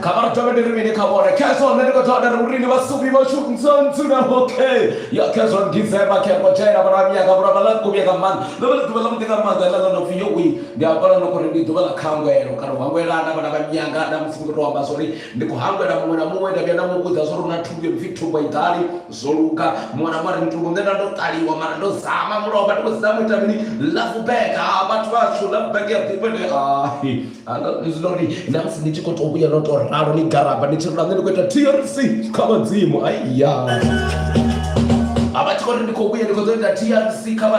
kha vha ri thome ndi ri mini kha vhone khezwo nṋe ndi khou thoma nda ri urini vhasubi vhashu ntsontsuna okay ya khezwo ndizema khekwa tshena vharavhiya ka vhura vhala kuvhiya ka maanḓa ḽo vha ḽi ḓuvha ḽa muḓi nga maanḓa ḽa ḽa no pfi yowi ndi hafhala no khori ndi ḓuvha ḽa khangwelo kana u hangwelana vhana vha nyanga na musi ndi khou tou amba zwori ndi khou hangwela muṅwe na muṅwe nda vhuya nda mu vhudza zwori hu na thumbu yo no pfi thumbu i ḓali zwo luga muṅwe na muṅwe ari muthu nṋe nda ndo ṱaliwa mara ndo zama mulovha ndi khou zama ita mini love bag ha ah, vhathu vhatshu love bag ya ḓifha ndi hai ah, ah, zwino ri na musi ni tshi khou tou vhuya no tou ralo ni garaba ni tshi rula nṋe ndi khou ita trc kha vhadzimu ai ya a vha tshi khou ri ndi khou vhuya ndi khou ḓo ita trc kha vha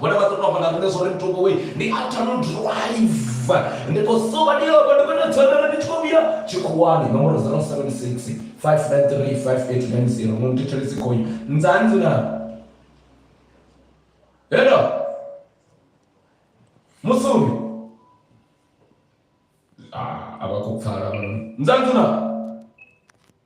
Vhone vha ḓo tou amba na riṋe zwo ri muthu we ndi a tano drive ndi khou soba ndi yoko ndi khou tou dzhenelela ndi tshi khou vhuya tshikhuwani nomboro 076 593 5890 mu nthethelisi khoi nzanzi na hello musumi ah, a vha khou pfala nzanzi na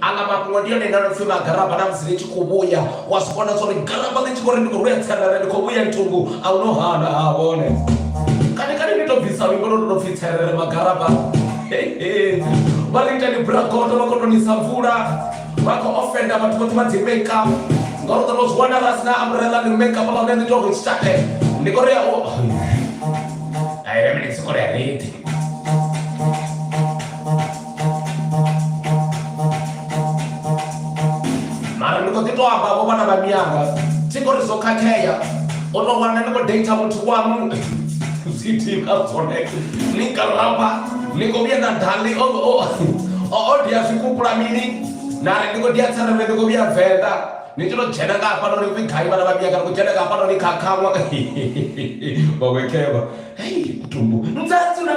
aḽa mafhungo ndi yone ine no pfi magaraba na musi ni tshi khou vhuya wa si vhona zwa uri garaba ḽi tshi khou ri ndi khou vhuya tserere ndi khou vhuya nthungu a hu no hana ha vhone kani kani ni to bvisa luimbo lwo no pfi tserere magaraba vha ri ita ni bragoto vha khou to nisa mvula vha khou ofenda vhathu vhoṱhe vha dzi makeup ngauri ḓo no zwi wana ra sina umbrella ni makeup vha vhe ni to ri tshitae ndi khou ri ya u ai vhe mini tsikole ya redi mara ndi kho ḓi to amba vho vhana vha miyanga thi kho ri zwo khakhea o to wana ni kho data muthu wanu zwitika zwone ni karamba ni kho vhuya na dali o o dia zwikupula mini na ri ndi kho dia tsara ndi kho vhuya venḓa ni tshi to dzhena nga hafha nori kwi gai vhana vha miyanga ni kho dzhena nga hafha nori khakhawa vhawekheva hei kutumbu ndzadzula